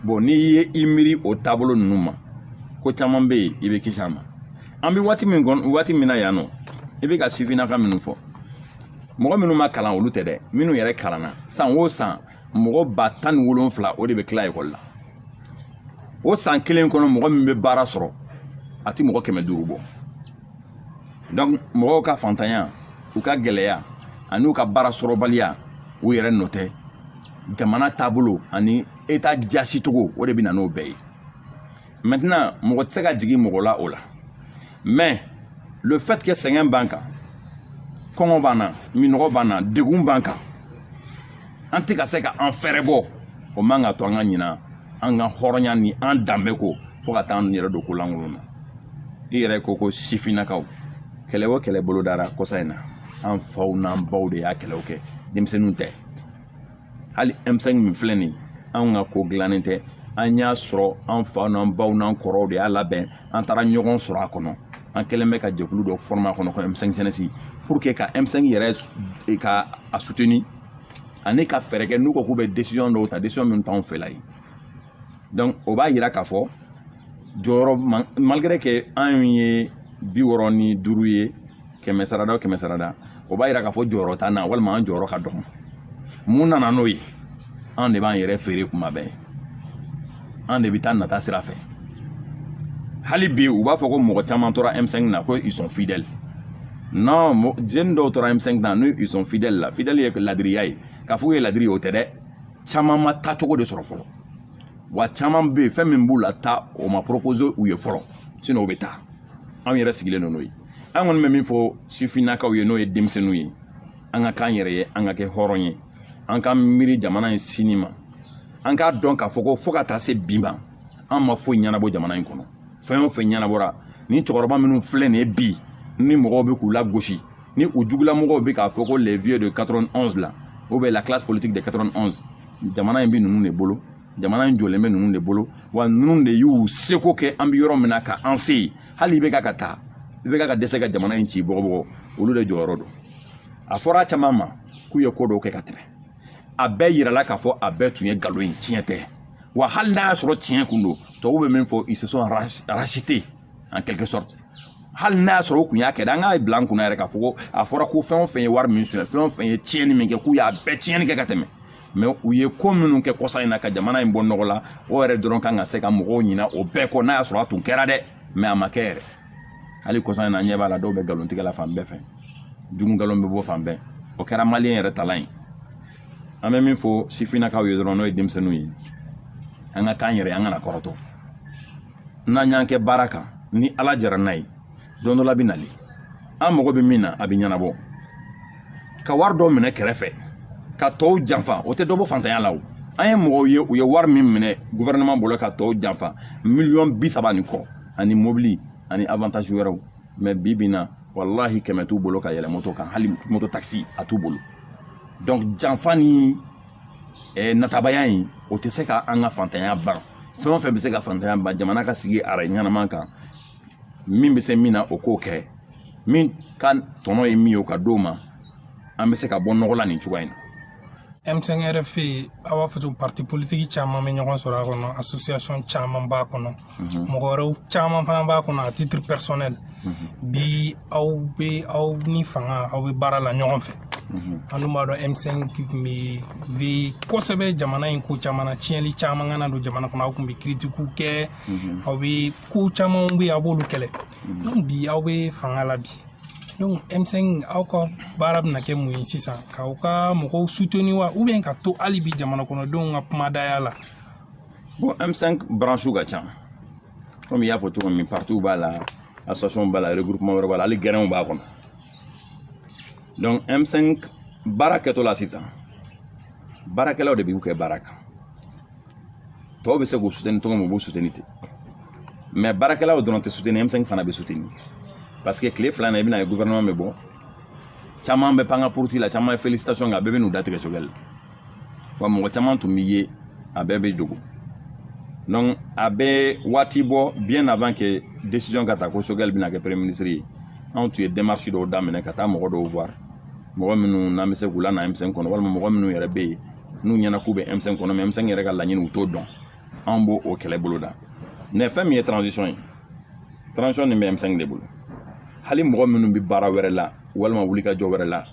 bon n'i ye i miiri o taabolo ninnu ma ko caman bɛ yen i bɛ kisi a ma an bɛ waati min kɔnɔ waati min na yan nɔ i bɛ ka sifinnaka minnu fɔ mɔgɔ minnu ma kalan olu tɛ dɛ minnu yɛrɛ kalanna san o san mɔgɔ ba tan ni wolonfila o de bɛ tila ekɔli la o san kelen kɔnɔ mɔgɔ min bɛ baara sɔrɔ a tɛ mɔgɔ kɛmɛ duuru bɔ donc mɔgɔw ka fantanya u ka gɛlɛya ani u ka baara sɔrɔbaliya u yɛrɛ nɔ tɛ jamana taabolo ani eta jaasicogo o de bɛ na n'o bɛɛ ye maintenant mɔgɔ tɛ se ka jigin mɔgɔ la o la mais le fait que sɛgɛn b'an kan kɔngɔ b'an na minɔgɔ b'an na degun b'an kan an tɛ ka se ka an fɛɛrɛ bɔ o man ka to an ka ɲina an ka hɔrɔnya ni an danbe kɔ fo ka taa an yɛrɛ don ko lankolon na i yɛrɛ ko ko sifinnakaw kɛlɛ o kɛlɛ bolodara kɔsa in na an faw n'an baw de y'a kɛlɛw kɛ denmisɛnninw tɛ hali M5 min filɛ nin an ka ko dilannen tɛ an y'a sɔrɔ an faw n'an baw n'an kɔrɔw de y'a labɛn an taara ɲɔgɔn sɔrɔ a kɔnɔ an kɛlen bɛ ka jɛkulu dɔ fɔrɔma a kɔnɔ ko M5 jeunesse pour que ka M5 yɛrɛ e ka a suteni ani ka fɛɛrɛ kɛ n'u ko k'u bɛ décision dɔw ta décision min t'anw fɛla ye donc o b'a yira k'a fɔ jɔyɔrɔ malgré que an ye bi wɔɔrɔ ni duuru ye kɛmɛ sarada o kɛmɛ sarada o b'a yira k'a fɔ jɔyɔrɔ t'an na walima an jɔyɔrɔ ka dɔgɔn mun nana n'o ye an de b'an yɛrɛ feere kuma bɛɛ an de bɛ taa nata sira fɛ hali bi u b'a fɔ ko mɔgɔ caman tora M5 na ko ils sont fidèles non jeune dɔw tora M5 na n'u ils sont fidèles la fidèle ye ladiriya ye k'a fɔ u ye ladiri ye o tɛ dɛ caman ma taa cogo de sɔrɔ fɔlɔ wa caman bɛ yen fɛn min b'u lataa o ma proposer u ye fɔlɔ sinon u bɛ taa an yɛrɛ sigilen don n'o ye an kɔni bɛ min fɔ sifinnakaw ye n'o ye denmisɛnninw ye an ka k'an yɛrɛ ye an ka kɛ hɔrɔn ye an ka miiri jamana in sini ma an k'a dɔn k'a fɔ ko fo ka taa se bi ma an ma foyi ɲɛnabɔ jamana in kɔnɔ fɛn o fɛn ɲɛnabɔra ni cɛkɔrɔba minnu filɛ nin ye bi ni mɔgɔw bɛ k'u lagosi ni u jugulamɔgɔw bɛ k'a fɔ ko les vieux de 91 la ou bien la classe politique de 91 jamana in bɛ ninnu de bolo jamana in jɔlen bɛ ninnu de bolo wa ninnu de y'u seko kɛ an bɛ yɔrɔ min na ka an se yen hali IBK ka taa IBK ka dɛsɛ ka jamana in ci bɔgɔbɔgɔ olu de jɔyɔrɔ don a fɔra caman ma k'u ye ko dɔw kɛ ka tɛmɛ a bɛɛ yirala k'a fɔ a bɛɛ tun ye nkalon ye tiɲɛ tɛ wa hali n'a y'a sɔrɔ tiɲɛ kun don tubabu bɛ min fɔ ils se sont rachetés en quelque sorte hali n'a y'a sɔrɔ u kun y'a kɛ dɛ an k'a bila an kunna yɛrɛ k'a fɔ ko a fɔra ko fɛn o fɛn ye wari min sonyɛ fɛn o fɛn ye tiɲɛni min kɛ k'u y'a bɛɛ tiɲɛni kɛ ka tɛmɛ mais u ye ko minnu kɛ kɔsa in na ka jamana in bɔ nɔgɔ la o yɛrɛ dɔrɔn kan ka se ka mɔgɔw ɲina o bɛɛ kɔ n'a y'a sɔrɔ a tun kɛra dɛ mais a ma kɛ yɛrɛ hali kɔsa in na ɲɛ b'a la dɔw bɛ nkalontigɛ la fan bɛɛ fɛ jugu nkalon bɛ bɔ fan bɛɛ o kɛra maliyɛn yɛrɛ talan ye an bɛ min fɔ sifinnakaw ye dɔrɔn n'o ye denmisɛnninw ye an ka kan yɛrɛ an kana kɔrɔtɔ n'an y'an kɛ baara kan ni ala jara n'a ye don dɔ la bɛ nali an mago bɛ min na a bɛ ɲɛnabɔ ka wari dɔ minɛ kɛrɛfɛ ka tɔw janfa o tɛ dɔ bɔ fantanya la o an ye mɔgɔw ye u ye wari min minɛ gouvernement bolo ka tɔw janfa miliyɔn bi saba ni kɔ ani mobili ani avantage wɛrɛw mais bi bi in na walahi kɛmɛ t'u bolo ka yɛlɛ moto kan hali moto takisi a t'u bolo donc janfa ni eh, natabaya in o tɛ se ka an ka fantanya ban fɛn o fɛn bɛ se ka fantanya ban jamana ka sigi arayi ɲɛnama kan min bɛ se min na o k'o kɛ min ka tɔnɔ ye min ye o ka d'o ma an bɛ se ka bɔ nɔgɔ la nin cogoya in na M5RFP aw b'a fɔ cogo parti politique caman bɛ ɲɔgɔn sɔrɔ a kɔnɔ association caman b'a kɔnɔ mhm. mɔgɔ wɛrɛw caman fana b'a kɔnɔ à titre personnel mhm. bi aw bɛ aw ni fanga aw bɛ baara la ɲɔgɔn fɛ mhm. an dun b'a dɔn M5 tun bɛ veiller kosɛbɛ jamana in ko caman na tiɲɛli caman kana don jamana kɔnɔ aw tun bɛ critique kɛ aw bɛ ko camanw bɛ yen aw b'olu kɛlɛ donc bi aw bɛ fanga la bi donc M5 aw ka baara bɛna kɛ mun ye sisan k'aw ka mɔgɔw soutenir wa ou bien ka to hali bi jamana kɔnɔdenw ka kumadaya la bon M5 branche ka ca comme i y'a fɔ cogo min partiw b'a la association b'a la regroupement wɛrɛ b'a la hali gɛrɛnw b'a kɔnɔ donc M5 baara kɛtɔ la sisan baarakɛlaw de b'u kɛ baara kan tɔw bɛ se k'u soutenir cogo min u b'u soutenir ten mais baarakɛlaw dɔrɔn tɛ soutenir M5 fana bɛ soutenir parce que tile fila in na i bɛna ye gouvernement bɛ bɔ caman bɛ pan ka poroti la caman ye félicitation kɛ a bɛɛ bɛ n'u datigɛ Choguel la wa mɔgɔ caman tun bɛ yen a bɛɛ bɛ dogo donc a bɛ waati bɔ bien avant que décision ka ta ko Choguel bɛna kɛ premier ministre ye anw tun ye démarche dɔw daminɛ ka taa mɔgɔ dɔw voir mɔgɔ minnu n'an bɛ se k'u lana M5 kɔnɔ walima mɔgɔ minnu yɛrɛ bɛ yen n'u ɲɛna k'u bɛ M5 kɔnɔ mais M5 yɛrɛ ka laɲini u t'o dɔn anw b'o o kɛlɛ bolo da mais fɛn min ye transition ye transition nin bɛ M5 de bolo hali mɔgɔ minnu bɛ baara wɛrɛ la walima wulikajɔ wɛrɛ la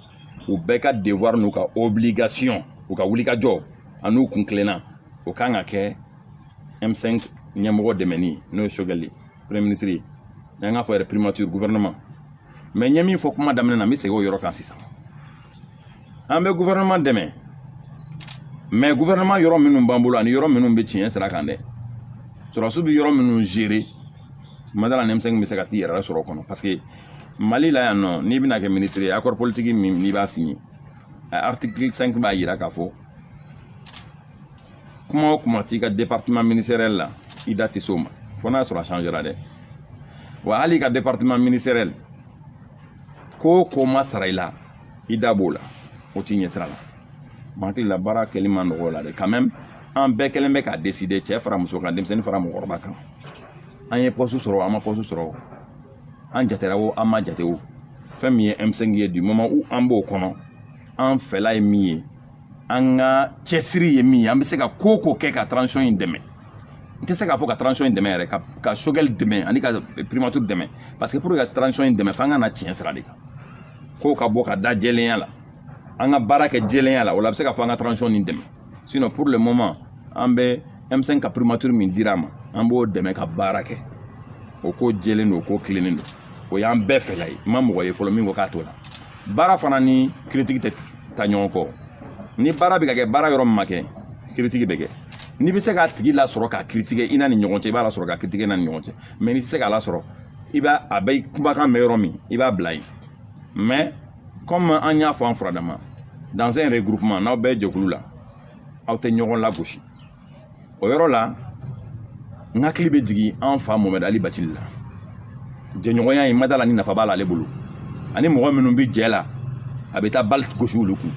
u bɛɛ ka devoir n'u ka obligation u ka wulikajɔ an'u kun tilenna o kan ka kɛ m5 ɲɛmɔgɔ dɛmɛni n'o ye choguel premier ministre ye n'an k'a fɔ yɛrɛ primature gouvernement mais n ye min fɔ kuma daminɛ na n bɛ segin o yɔrɔ kan sisan an bɛ gouvernement dɛmɛ mais gouvernement yɔrɔ minnu b'an bolo ani yɔrɔ minnu bɛ tiɲɛ sira kan dɛ sɔrɔdasiw bɛ yɔrɔ minnu gérer ma da la ni m5 bɛ se ka t'i yɛrɛ sɔrɔ o kɔnɔ parce que mali la yan nɔ n'i bɛna kɛ minisiri ye accord politique min n'i b'a signer article 5 b'a jira k'a fɔ kuma o kuma t'i ka département ministériel la i da tɛ s'o ma fo n'a sɔrɔ a changera dɛ wa hali i ka département ministériel ko o ko ma sara i la i da b'o la o t'i ɲɛ sira la ma hakili la baara kɛli ma nɔgɔ o la dɛ quand même an bɛɛ kɛlen bɛ k'a décider cɛ fara muso kan denmisɛnnin fara mɔgɔkɔrɔba kan an ye poste sɔrɔ an ma poste sɔrɔ an jatera o an ma jate o fɛn min ye m5 ye du moment où an b'o kɔnɔ an fɛla ye min ye an ka cɛsiri ye min ye an bɛ se ka ko o ko kɛ ka transition in dɛmɛ n tɛ se k'a fɔ ka transition in dɛmɛ yɛrɛ ka choguel dɛmɛ ani ka primature dɛmɛ parce que pour que ka transition in dɛmɛ f'an ka na tiɲɛ sira de kan kow ka bɔ ka da jɛlenya la an ka baara kɛ jɛlenya la o la a bɛ se ka fɔ an ka transition nin dɛmɛ sinon pour le moment an bɛ M5 ka primature min dira ma an b'o dɛmɛ ka baara kɛ o ko jɛlen don o ko tilennen don o y'an bɛɛ fɛla ye n ma mɔgɔ ye fɔlɔ min ko k'a t'o la baara fana ni critique tɛ taa ɲɔgɔn kɔ ni baara bɛ ka kɛ baara yɔrɔ min ma kɛ critique bɛ kɛ n'i bɛ se k'a tigi lasɔrɔ k'a critiquer i n'a ni ɲɔgɔn cɛ i b'a lasɔrɔ k'a critiquer i n'a ni ɲɔgɔn cɛ mais n'i tɛ se k'a lasɔrɔ i b'a a bɛ kumakan mɛn yɔrɔ min i b'a bila yen mais kɔmi an y'a fɔ an furadama dans un regroupement n'aw bɛɛ jɛkulu la aw tɛ ɲɔgɔn lagosi o yɔrɔ la n hakili bɛ jigin an fa mohamed ali bathily la jɛɲɔgɔnya in ma da la ni nafa b'a la ale bolo ani mɔgɔ minnu bɛ jɛ la a bɛ taa bali gosi olu kun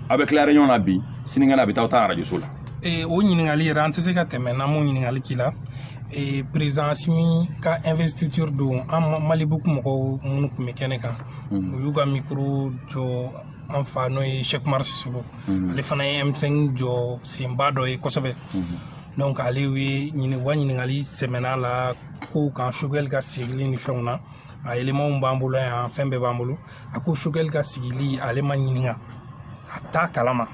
aw bɛ tila réunion na bi sinikɛnɛ a bɛ taa aw tan arajoso la eh, o ɲininkali yɛrɛ an tɛ se ka tɛmɛ n'an m'o ɲininkali k'i la eh, président assimi ka investiture don an malibuku mɔgɔw minnu tun bɛ kɛnɛ kan u y'u ka micro jɔ an fa n'o ye cheick oumar sissoko ale fana ye m5 jɔ senba dɔ ye kosɛbɛ donc ale ye ɲini wa ɲininkali sɛmɛn'a la kow kan choguel ka sigili ni fɛnw na a éléments b'an bolo yan fɛn bɛɛ b'an bolo a ko choguel ka sigili ale ma ɲininka a t'a kalama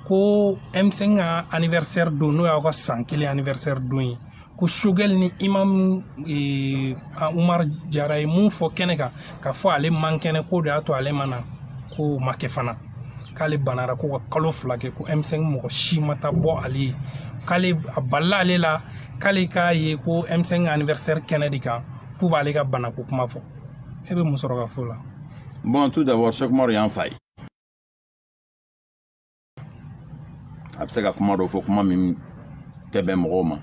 ko m5 ka anniversaire don n'o y'aw ka san kelen anniversaire don ye ko choguel ni imam e, umar jara ye mun fɔ kɛnɛ kan k'a fɔ ale man kɛnɛ k'o de y'a to ale ma na k'o ma kɛ fana k'ale banara ko ka kalo fila kɛ ko m5 mɔgɔ si ma taa bɔ ale ye k'ale a balila ale la k'ale k'a ye ko m5 anniversaire kɛnɛ de kan k'u b'ale ka bana ko kuma fɔ e bɛ mun sɔrɔ ka fɔ o la bon tout d'abord cheikh umaru y'an fa ye a bɛ se ka kuma dɔ fɔ kuma min tɛ bɛn mɔgɔw ma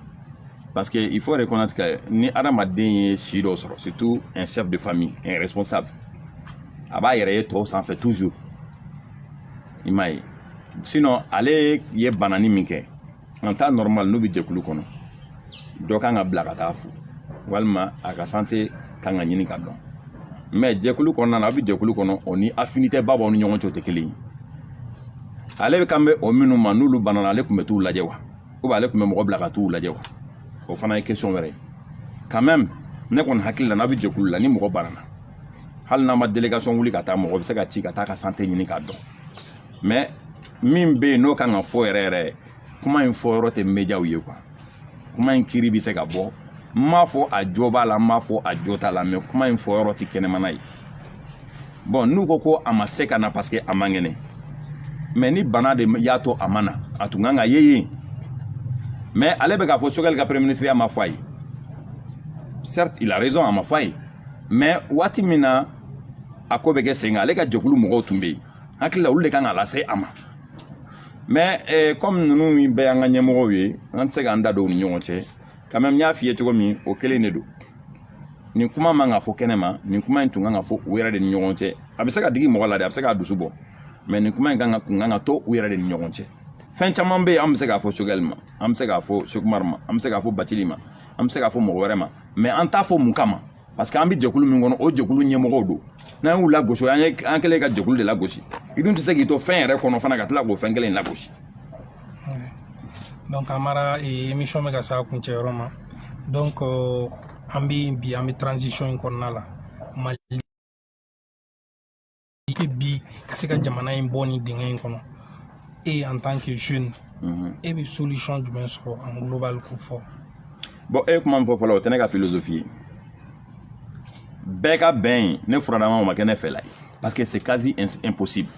parce que il faut reconnaître que ni adamaden ye si dɔ sɔrɔ surtout un chef de famille un responsable a b'a yɛrɛ ye tɔw sanfɛ toujours i m'a ye sinon ale ye banani min kɛ en temps normal n'u bɛ jɛkulu kɔnɔ dɔ kan ka bila ka t'a fo walima a ka santé kan ka ɲini ka dɔn mais jɛkulu kɔnɔna na a bɛ jɛkulu kɔnɔ o ni affinité ba b'aw ni ɲɔgɔn cɛ o tɛ kelen ye ale bɛ kan bɔ minnu ma n'olu banana ale tun bɛ t'u lajɛ wa ou bien ale tun bɛ mɔgɔ bila ka t'u lajɛ wa o fana ye question wɛrɛ ye quand même ne kɔni hakili la n'a bɛ jɛkulu la ni mɔgɔ banana hali n'a ma délégation wuli ka taa mɔgɔ bɛ se ka ci ka t'a ka santé ɲini k'a dɔn mais min bɛ yen n'o kan ka fɔ yɛrɛ yɛrɛ kuma in fɔ yɔrɔ tɛ médiaw ye quoi kuma in kiri bɛ se ka bɔ n m'a fɔ a jo b'a la n m'a fɔ a jo t'a la mais kuma in fɔ yɔrɔ tɛ kɛnɛmana ye bon n'u ko ko a ma se ka na parce que a man kɛnɛ mais ni bana de y'a to a ma na a tun kan ka ye yen mais ale bɛ k'a fɔ choguel ka premier ministreya ma fɔ a ye certes il a raison a ma fɔ a ye mais waati min na a ko bɛ kɛ sen kan ale ka jɛkulu mɔgɔw tun bɛ yen hakili la olu de kan k'a lase a ma mais eh, comme ninnu bɛɛ y'an ka ɲɛmɔgɔw ye an tɛ se k'an da don u ni ɲɔgɔn cɛ quand même n y'a f'i ye cogo min o kelen de don nin kuma man ka fɔ kɛnɛ ma nin kuma in tun kan ka fɔ u yɛrɛ de ni ɲɔgɔn cɛ a bɛ se ka digi mɔgɔ la dɛ a bɛ se k'a dusu bɔ mais nin kuma in kan ka kun kan ka to u yɛrɛ de ni ɲɔgɔn cɛ fɛn caman bɛ yen an bɛ se k'a fɔ choguel ma an bɛ se k'a fɔ cheikh umar ma an bɛ se k'a fɔ bathily ma an bɛ se k'a fɔ mɔgɔ wɛrɛ ma mais an t'a fɔ mun kama parce que an bɛ jɛkulu min kɔnɔ o jɛkulu ɲɛmɔgɔw don n'an y'u lagosi an ye an kelen ka jɛkulu de lagosi i dun tɛ se k'i to fɛn yɛrɛ kɔnɔ fana ka tila k'o fɛn kelen in lagosi. donc amara eh, émission bɛ ka se a kuncɛ yɔrɔ ma donc euh, an bɛ bi an bɛ transition in kɔnɔna la mali. i kɛ bi ka se ka jamana in bɔ nin dingɛ in kɔnɔ e en tant que jeune mhm. e bɛ solution jumɛn sɔrɔ en global k'o fɔ bon e ye kuma min fɔ fɔlɔ o tɛ ne ka philosophie ye bɛɛ ka bɛn ye ne furadama o ma kɛ ne fɛla ye parce que c'est quasi impossible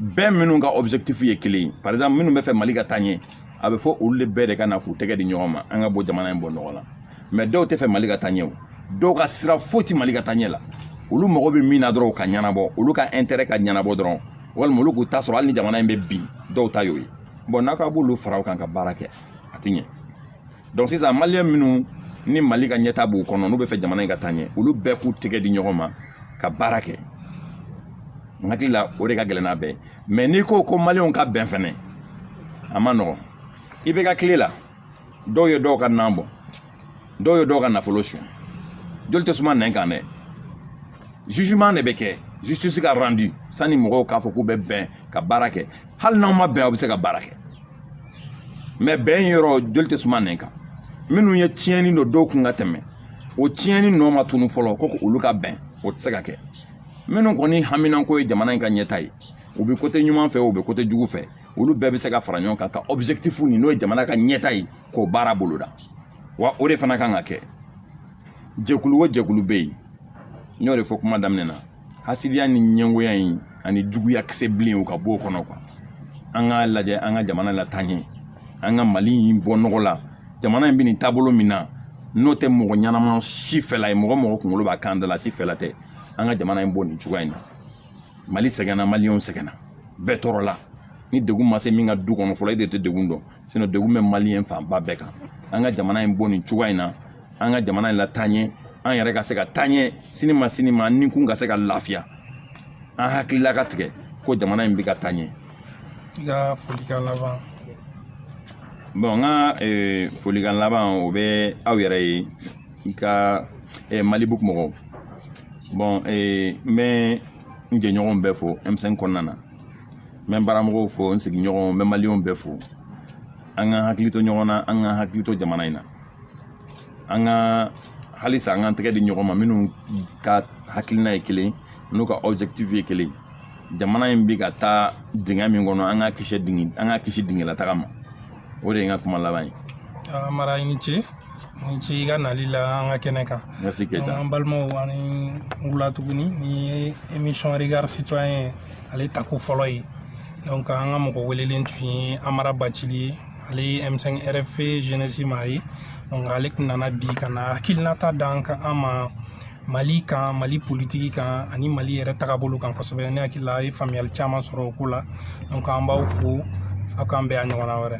bɛɛ minnu ka objectif ye kelen ye par exemple minnu b'a fɛ mali ka taa ɲɛ a bɛ fɔ olu de bɛɛ de ka na k'u tɛgɛ di ɲɔgɔn ma an ka bɔ jamana in bɔ nɔgɔ la mais dɔw tɛ fɛ mali ka taa ɲɛ o dɔw ka sira foyi tɛ mali ka taa ɲɛ la olu mago bɛ min na dɔrɔn ka ɲɛnabɔ olu ka intérêt ka ɲɛnabɔ dɔrɔn walima olu k'u ta sɔrɔ hali ni jamana in bɛ bin dɔw ta y'o ye bon n'a ka b'olu fara o kan ka baara kɛ a tɛ ɲɛ donc sisan maliyɛn minnu ni mali ka ɲɛtaa b'u kɔnɔ n'u bɛ fɛ jamana in ka taa ɲɛ olu bɛɛ k'u tɛgɛ di ɲɔgɔn ma ka baara kɛ n hakili la o de ka gɛlɛn n'a bɛɛ mais n'i ko ko maliyɛnw ka bɛn fɛnɛ a man nɔgɔn ibk tile la dɔw ye dɔw ka nan bɔn dɔw ye dɔw ka nafolo suɲɛ joli tɛ suma nɛn kan dɛ jugement de bɛ kɛ justice ka rendu sani mɔgɔw k'a fɔ k'u bɛ bɛn ka baara kɛ hali n'aw ma bɛn aw bɛ se ka baara kɛ mais bɛn yɔrɔ joli tɛ suma nɛn kan minnu ye tiɲɛni don dɔw kun ka tɛmɛ o tiɲɛni nɔ ma tunun fɔlɔ ko olu ka bɛn o tɛ se ka kɛ minnu kɔni haminanko ye jamana in ka ɲɛtaa ye u bɛ côté ɲuman fɛ u bɛ côté jugu fɛ olu bɛɛ bɛ se ka fara ɲɔgɔn kan ka objectif nin n'o ye jamana ka ɲɛtaa ye k'o baara boloda wa o de fana kan ka kɛ jɛkulu o jɛkulu bɛ yen n y'o de fɔ kuma daminɛ na hasidiya ni ɲɛngoya in ani juguya kisɛ bilen u ka b'o kɔnɔ quoi an k'a lajɛ an ka jamana lataa ɲɛ an ka mali in bɔ nɔgɔ la jamana in bɛ nin taabolo min na n'o tɛ mɔgɔ ɲɛnama si fɛla ye mɔgɔ mɔgɔ kunkolo b'a kan da la si fɛla tɛ an ka jamana in bɔ nin cogoya in na mali sɛgɛnna maliyɛnw sɛgɛnna bɛɛ tɔɔrɔla ni degun ma se min ka du kɔnɔ fɔlɔ e de tɛ degun dɔn sinon degun bɛ maliyɛn fanba bɛɛ kan an ka jamana in bɔ nin cogoya in na an ka jamana in lataa ɲɛ an yɛrɛ ka se ka taaɲɛ sini ma sini ma ni kun ka se ka lafiya an hakilila ka tigɛ ko jamana in bɛ ka taaɲɛ i ka folikan laban bon n ka folikan laban o bɛ aw yɛrɛ ye i ka eh, malibook mɔgɔw bon eh, n bɛ n jɛɲɔgɔnw bɛɛ fo m5 kɔnɔna na n bɛ n baramɔgɔw fo n sigiɲɔgɔnw n bɛ maliyɛnw bɛɛ fo an ka hakili to ɲɔgɔn na an ka hakili to jamana in na an ka halisa an k'an tɛgɛ di ɲɔgɔn ma minnu ka hakilina ye kelen n'u ka objectif ye kelen jamana in bi ka taa dingɛ min kɔnɔ an ka kisi dingɛ an ka kisi dingɛlataga ma o de ye n ka kuma laban ye amara i ni ce ni ce i ka nali la an ka kɛnɛ kan merci keita an balimaw aw ni wula tuguni nin ye émission regard citoyen ale tako fɔlɔ ye donc an ka mɔgɔ welelen tun ye amara bathily ye ale ye m5 rfp jeunesse maa ye donc ale tun nana bi ka na hakilinata d'an ka an ma mali kan mali politiki kan ani mali yɛrɛ tagabolo kan kosɛbɛ ne hakili la a ye faamuyali caman sɔrɔ o ko la donc an b'aw fo aw k'an bɛn a ɲɔgɔnna wɛrɛ